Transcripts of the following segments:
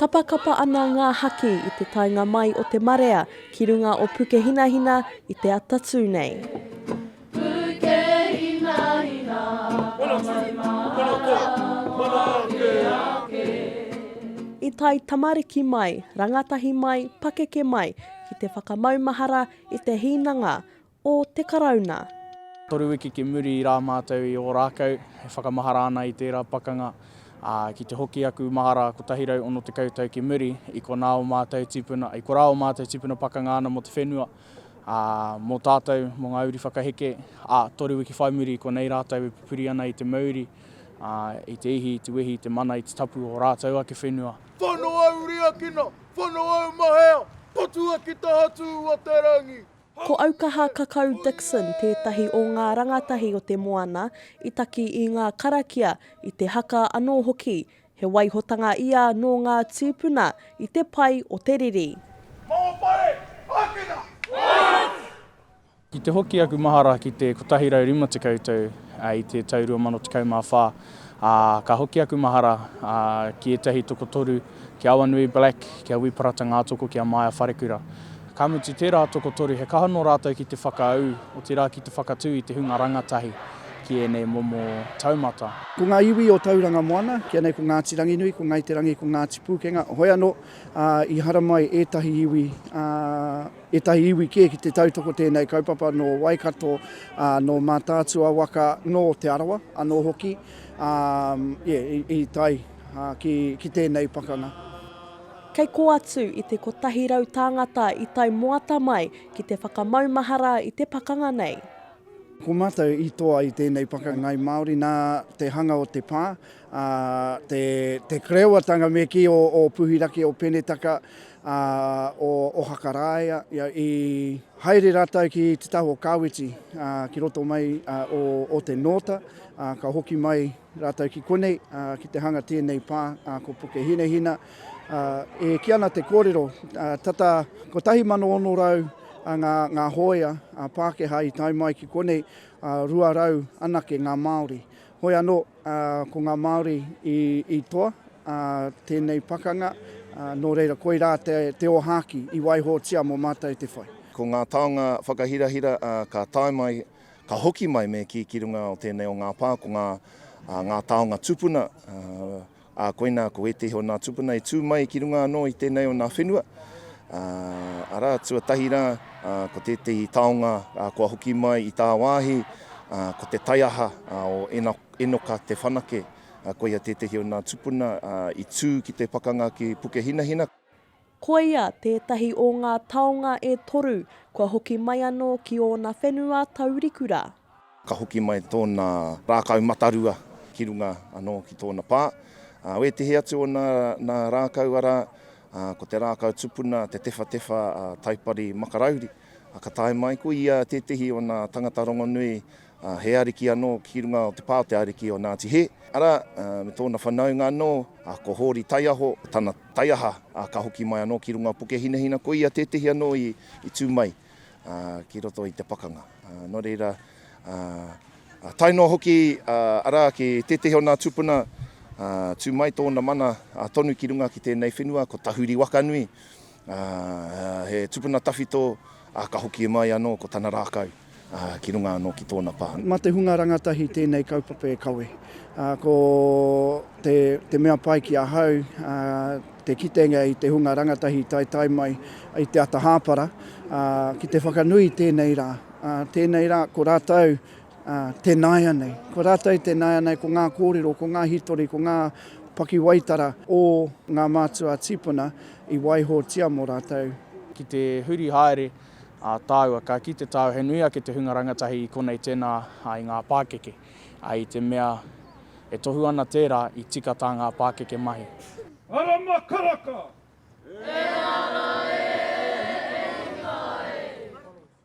Kapakapa ana ngā haki i te taenga mai o te marea ki runga o Pukehinahina i te ata tū nei. I tae tamariki mai, rangatahi mai, pakeke mai ki te whakamaumahara i te hīnanga o te Karauna. Toru wiki ki muri rā mātou i Ōrākau e whakamahara ana i tērā pakanga, ā, ki te hoki aku mahara 160 tau ki muri, i konā ō mātou tīpuna, i korā ō mātou tīpuna pakanga ana mō te whenua, ā, mō tātou, mō ngā uri whakaheke, ā, toru wiki whai muri i konei rātou e pupuri ana i te mauri, ā, i te ihi, i te wehi, i te mana, i te tapu o ō rātou ake whenua. Whano au riakina, whano au mahea, patua ki taha tū o te rangi. Ko Aukaha Kakau Dixon tētahi o ngā rangatahi o te moana i taki i ngā karakia, i te haka anō hoki. He waihotanga ia nō ngā tīpuna i te pai o te riri. Mō whare ākena! What! I te hoki aku mahara ki te 150 tau i te tau 2014, ā, ka hoki aku mahara ki ētahi tokotoru, ki a Awanui Black, ki a Wī Parata Ngātoko, ki a Maia Wharekura. Ka mutu tērā tokotoru he kaha nō rātou ki te whakaū, otirā ki te whakatū i te hunga rangatahi ki ēnei momo taumata. Ko ngā iwi o Tauranga Moana, ki anei ko Ngāti Ranginui, ko Ngāi Te Rangi, ko Ngāti Pūkenga, hoi anō, i haramai ētahi iwi, ētahi iwi kē ki te tautoko tēnei kaupapa nō Waikato, nō Mātaatua waka, nō Te Arawa anō hoki, ā, i tae ki tēnei pakanga. Kei kō atu i te 100 tāngata i tae moata mai ki te whakamaumahara i te pakanga nei. Ko mātou i toa i tēnei pakangai Māori nā te hanga o te pā, ā, te, te krewatanga me kī o, o Puhiraki, o Penetaka, ā, o Ohaka Rāea, ia, i haere rātou ki te taha o Kāweti, ā, ki roto mai, ā, o, o te Nōta, ā, ka hoki mai. Rātou ki konei, ki te hanga tēnei pā, ko Puke Hinehina. E kī ana te kōrero, tata 1,600 ngā hōia Pākehā i tae mai ki konei, 200 anake ngā Māori. Hoi anō, ko ngā Māori i toa tēnei pakanga, nō reira koirā te ōhākī i waihotia mō mātou te whai. Ko ngā taonga whakahirahira ka tae mai Ka hoki mai me kī ki runga o tēnei o ngā pā, ko ngā, ngā taonga tupuna, ā, koinā ko ētehi o nā tupuna i tū mai ki runga anō i tēnei o nā whenua, ā, arā, tuatahi rā, ā, ko tētehi taonga, ā, kua hoki mai i tāwāhi, ā, ko te taiaha, ā, o Ena, Enoka Te Whanake, ā, koia tētehi o nā tupuna, ā, i tū ki te pakanga ki Pukehinahina. Koia tētahi o ngā taonga e toru kua hoki mai anō ki ōna whenua taurikura. Ka hoki mai tōna rākau matarua ki runga anō ki tōna pā. Wētehi atu o nā rākau, arā, ko te rākau tupuna, te tewhatewha a Taipari Makarauri, ka tae mai ko ia tētehi o nā tangata rongonui He ariki anō ki runga o te pā o te ariki o Ngāti Hē, arā, me tōna whanaunga anō, ko Hōri Taiaho, tana taiaha, ā, ka hoki mai anō ki runga o Pukehinahina, ko ia tētehi anō i tū mai ki roto i te pakanga. Nō reira, tae noa hoki, arā, ki tētehi o nā tūpuna, tū mai tōna mana tonu ki runga ki tēnei whenua, ko Tahuri Wakanui, Ā, he tupuna tawhito, ā, ka hoki e mai anō ko tana rākau, ā, ki runga anō ki tōna pā. Mā te hunga rangatahi tēnei kaupapa e kawe. Ā, ko te, te mea pai ki ahau, ā, te kitenga i te hunga rangatahi i taetae mai i te ata hāpara, ā, ki te whakanui i tēnei rā. Ā, tēnei rā, ko rātou ā, tēnāianei. Ko rātou i tēnāianei, ko ngā kōrero, ko ngā hītori, ko ngā pakiwaitara o ngā mātua tīpuna i waihotia mō rātou. Ki te huri haere a tāua, ka kite tāua he nui ake te hunga rangatahi i konei tēnā i ngā pākeke, ā, i te mea e tohu ana tērā i tika tā ngā pākeke mahi. Arama Karaka! Ehara e hiki ai!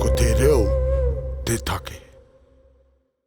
Ko te reo te take.